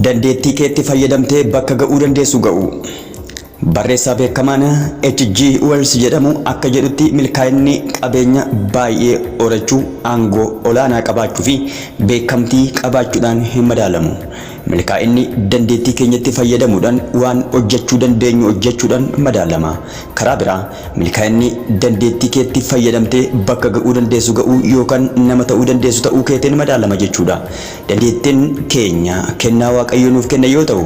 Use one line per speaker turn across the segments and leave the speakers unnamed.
Dandeettii keetti fayyadamtee bakka ga'uu dandeessu ga'uu. Barreessaa beekamaan HG Wells jedhamu akka jedhutti milkaa'inni qabeenya baay'ee horachuu, aangoo olaanaa qabaachuu fi beekamtii qabaachuudhaan hin madaalamu. Milkaa'inni dandeettii keenyatti fayyadamuudhaan waan hojjechuu dandeenyu hojjechuudhaan madaalama. Karaa biraa Milkaa'inni dandeettii keetti fayyadamtee bakka ga'uu dandeessu ga'uu yookan nama ta'uu dandeessu ta'uu keetin madaalama jechuudha. Dandeettin keenya kennaa Waaqayyo nuuf kenne yoo ta'u,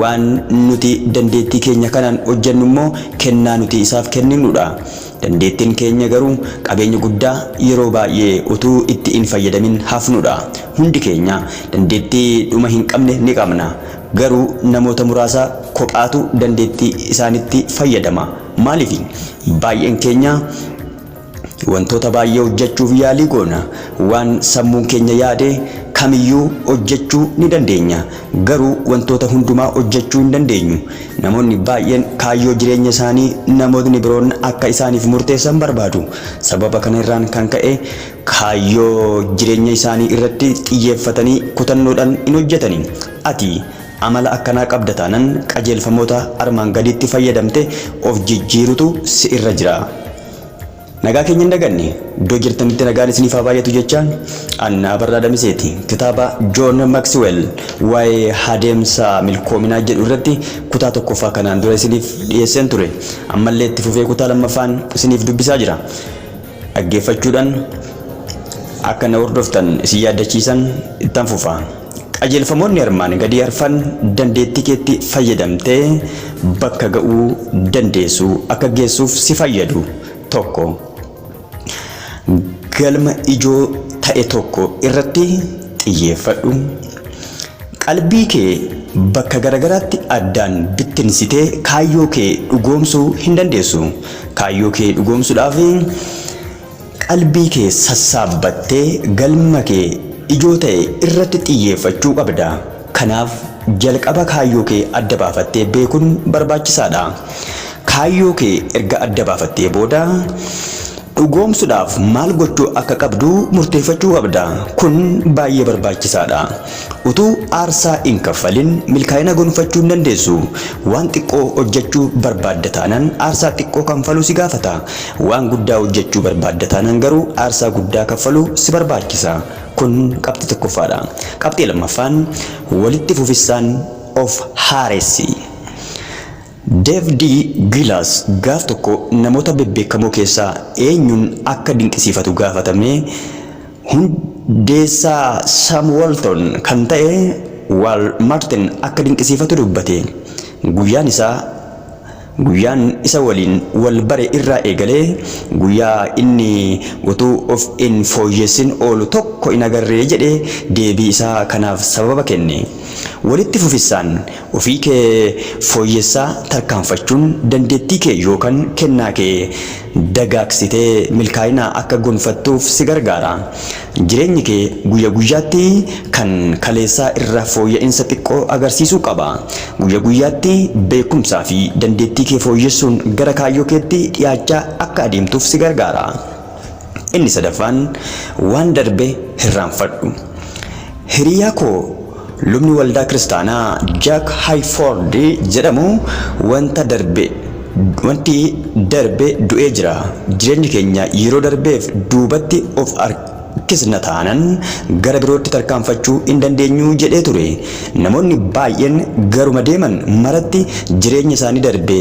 waan nuti dandeettii keenya kanaan hojjennu immoo kennaa nuti isaaf kenninudha. Dandeettin keenya garuu qabeenya guddaa yeroo baay'ee utuu itti hin fayyadamin hafnudha. Hundi keenya dandeettii dhuma hin qabne ni qabna. Garuu namoota muraasa kophaatu dandeettii isaanitti fayyadama. Maaliifi? Baay'een keenya wantoota baay'ee hojjechuuf yaalii goona. Waan sammuun keenya yaade kamiyyuu hojjechuu ni dandeenya. Garuu wantoota hundumaa hojjechuu hin dandeenyu. Namoonni baay'een kaayyoo jireenya isaanii namootni biroon akka isaaniif murteessan barbaadu. Sababa kana irraan kan ka'e Kaayyoo jireenya isaanii irratti xiyyeeffatanii kutannoodhan hin hojjatani. Ati amala akkanaa qabda taanan qajeelfamoota armaan gadiitti fayyadamte of jijjiirutu si irra jira. Nagaa keenya hin daganne. Iddoo jirtanitti nagaan isiniif haa baay'atu jechaa. An Abarraa Damiseeti. Kitaaba John Maxwell waa'ee adeemsa milkoominaa jedhu irratti kutaa tokkoffaa kanaan dura isiniif dhiyeesseen ture. Ammallee itti fufee kutaa lammaffaan isiniif dubbisaa jira. dhaggeeffachuudhan akka na hordoftan isin yaaddachiisan ittan fufa. Qajeelfamoonni armaan gadii arfan dandeettii keetti fayyadamtee bakka ga'uu dandeessu akka geessuuf si fayyadu. 1. Galma ijoo ta'e tokko irratti xiyyeeffadhu. Qalbii kee bakka garagaraatti addaan bittinsitee kaayyoo kee dhugoomsuu hin dandeessu. Kaayyoo kee dhugoomsuudhaaf qalbii kee sassaabbattee galma kee ijoo ta'e irratti xiyyeeffachuu qabda. Kanaaf jalqaba kaayyoo kee adda baafattee beekun barbaachisaadha. Kaayyoo kee erga adda baafattee booda dhugoomsudhaaf maal gochuu akka qabdu murteeffachuu qabda. Kun baay'ee barbaachisaadha. Utuu aarsaa hin kaffalin milkaa'ina gonfachuu hin dandeessu. Waan xiqqoo hojjechuu barbaadda taanaan aarsaa xiqqoo kanfaluu si gaafata. Waan guddaa hojjechuu barbaadda taanaan garuu aarsaa guddaa kaffaluu si barbaachisa. Kun qabxii tokkoffaadha. Qabxii lammaffaan, walitti fufissaan of haaressi. Dev D. Gilas gaaf tokko namoota bebbeekamoo keessaa eenyuun akka dinqisiifatu gaafatamee, hundeessaa Sam Walton kan ta'e Wal Martin akka dinqisiifatu dubbate. Guyyaan isaa guyyaan isa waliin wal bare irraa eegalee guyyaa inni utuu of hin fooyyessin oolu tokko hin agarre jedhee deebii isaa kanaaf sababa kenne. Walitti fufissaan Ofii kee fooyyessaa tarkaanfachuun dandeettii kee yookan kennaa kee dagaagsitee milkaa'ina akka gonfattuuf si gargaara. Jireenyi kee guyya guyyaatti kan kaleessaa irra fooyya'insa xiqqoo agarsiisuu qaba. Guyya guyyaatti beekumsaa fi dandeettii kee fooyyessuun gara kaayyoo keetti dhiyaachaa akka adeemtuuf si gargaara. Inni sadaffaan waan darbe hirraanfadhu. Hiriyaa koo lubni waldaa kiristaanaa Jack Hayford jedhamu wanta darbe wanti darbe du'ee jira. Jireenyi keenya yeroo darbeef duubatti of harkisna taanan gara birootti tarkaanfachuu hin dandeenyu jedhee ture. Namoonni baay'een garuma deeman maratti jireenya isaanii darbe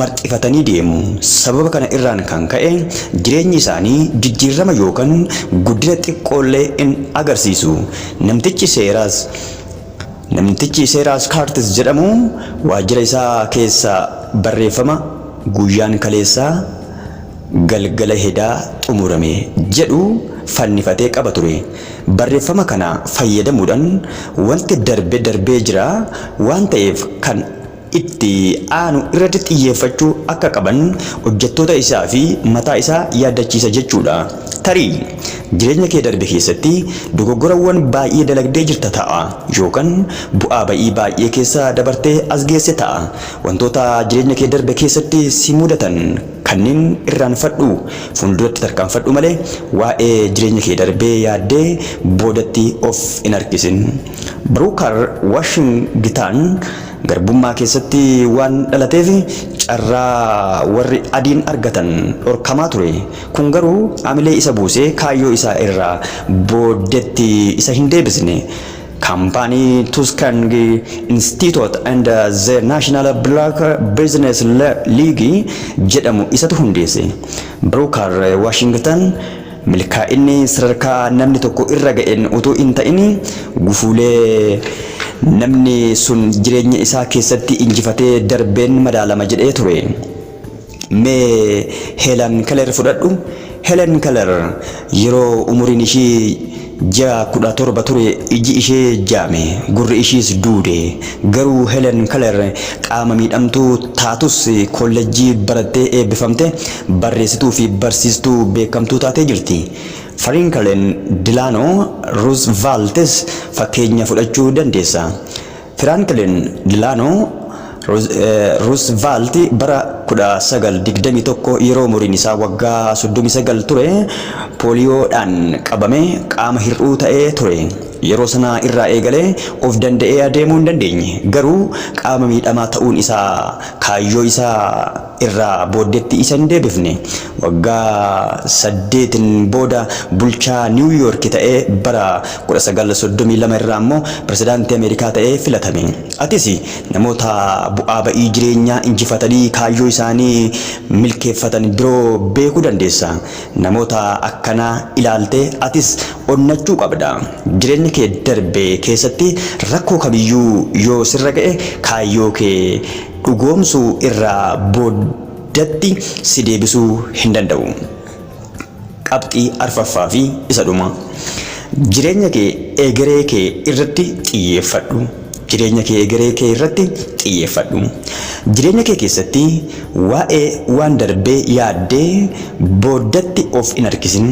marxifatanii deemu. Sababa kana irraan kan ka'e jireenyi isaanii jijjiirrama yookan guddina xiqqoollee in agarsiisu. Namtichi seeraas Namtichi Seeraas Kaartis jedhamu waajjira isaa keessaa barreeffama Guyyaan kaleessaa galgala hedaa xumurame jedhu fannifatee qaba ture. Barreeffama kana fayyadamuudhan wanti darbe darbee jira waan ta'eef kan itti aanu irratti xiyyeeffachuu akka qaban hojjettoota isaa fi mataa isaa yaaddachiisa jechuu dha. Tarii, jireenya kee darbe keessatti dogoggorawwan baay'ee dalagdee jirta ta'a, yookan bu'aa ba'ii baay'ee keessa dabartee as geesse ta'a. Wantoota jireenya kee darbe keessatti si mudatan kanneen irraanfadhuu fuulduratti tarkaanfadhu malee, waa'ee jireenya kee darbee yaaddee boodatti of hin harkisin. Bruker Washington. Garbummaa keessatti waan dhalateef carraa warri adiin argatan dhorkamaa ture. Kun garuu amilee isa buusee kaayyoo isaa irraa booddetti isa hin deebisne. Kaampaanii Tuuskangi Instiitoot and Ze Naashinaala Bilaak Biizinees Liigii jedhamu isatu hundeesse. Biruukaar Waashingitan. Milkaa'inni sadarkaa namni tokko irra ga'een utuu hin ta'in, gufuulee namni sun jireenya isaa keessatti injifatee darbeen madaalama jedhee ture. Mee Heelan Keler fudhadhu. Helen Keller yeroo umuriin ishii Ji'a 17 ture iji ishee jaame, gurri ishiis duude. Garuu Helen Keller qaama miidhamtuu taatus kollejjii barattee eebbifamte, barreessituu fi barsiistuu beekamtuu taatee jirti. Farinkalen Dilaanoo Ruuzvaaltis fakkeenya fudhachuu dandeessa. Firaanklin Dilaanoo Ruuzvaalti bara 1921 yeroo umuriin isaa waggaa 39 ture pooliyoodhaan qabamee qaama hir'uu ta'ee ture. Yeroo sana irraa eegalee of danda'ee adeemuu hin dandeenye, garuu qaama miidhamaa ta'uun isaa kaayyoo isaa irraa booddeetti isa hin deebifne. Waggaa saddeetin booda bulchaa Niiwu Yoorki ta'ee bara 1932 irraa immoo pirezidaantii Ameerikaa ta'ee filatame. Atis namoota bu'aa ba'ii jireenyaa injifatanii kaayyoo isaanii milkeeffatan biroo beekuu dandeessa. Namoota akkanaa ilaaltee atis onnachuu qabda. Jireenya kee darbe keessatti rakkoo kamiyyuu yoo sirra ga'e kaayyoo kee dhugoomsuu irraa booddatti si deebisuu hin danda'u. Qabxii arfaffaa fi isa dhumaa. Jireenya kee egeree kee irratti xiyyeeffadhu. Jireenya kee egeree kee irratti xiyyeeffadhu. Jireenya kee keessatti waa'ee waan darbee yaaddee booddatti of hin harkisin.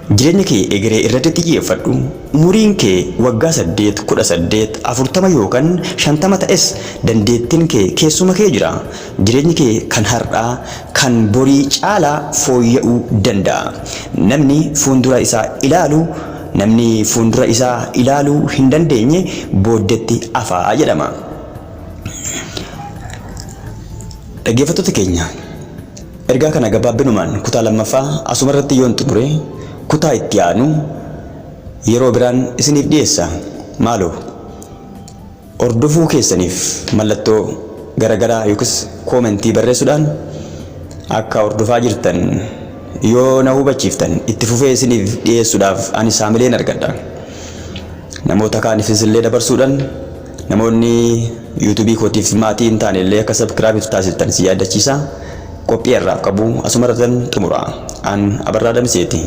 Jireenya kee egeree irratti xiyyeeffadhu. Umuriin kee waggaa 8, 18, 40 yookan 50 ta'es dandeettin kee keessuma kee jira. Jireenyi kee kan har'aa kan borii caalaa fooyya'uu danda'a. Namni fuundura isaa ilaalu Namni fuundura isaa ilaaluu hin dandeenye booddetti hafa jedhama. Dhaggeeffattoota keenya! Ergaa kana gabaabbinumaan kutaa lammaffaa asumarratti yoon xumure kutaa itti aanu yeroo biraan isiniif dhiyeessa. Maaloo hordofuu keessaniif mallattoo garagaraa yookiis koomentii barreessudhaan akka hordofaa jirtan yoo na hubachiiftan itti fufee isiniif dhiyeessudhaaf anis haamileen argadha. Namoota kaanifis illee dabarsuudhan Namoonni YouTube kootiif maatii hin taane illee akka subscribe itti taasiftan si yaadachiisa. Qophii har'aaf qabu asumarratan xumura. An Abarraa Damiseeti.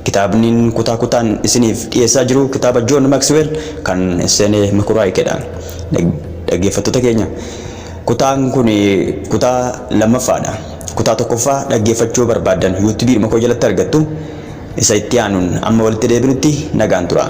Kitaabnin kutaa kutaan isiniif dhiyeessaa jiru kitaaba John Maxwell kan Sene Mekuraayikeedha. Dhaggeeffattoota keenya kutaan kun kutaa lammaffaadha. Kutaa tokkoffaa dhaggeeffachuu barbaaddan YouTube dhuma koo jalatti argattu. isa itti aanuun amma walitti deebinutti nagaan turaa.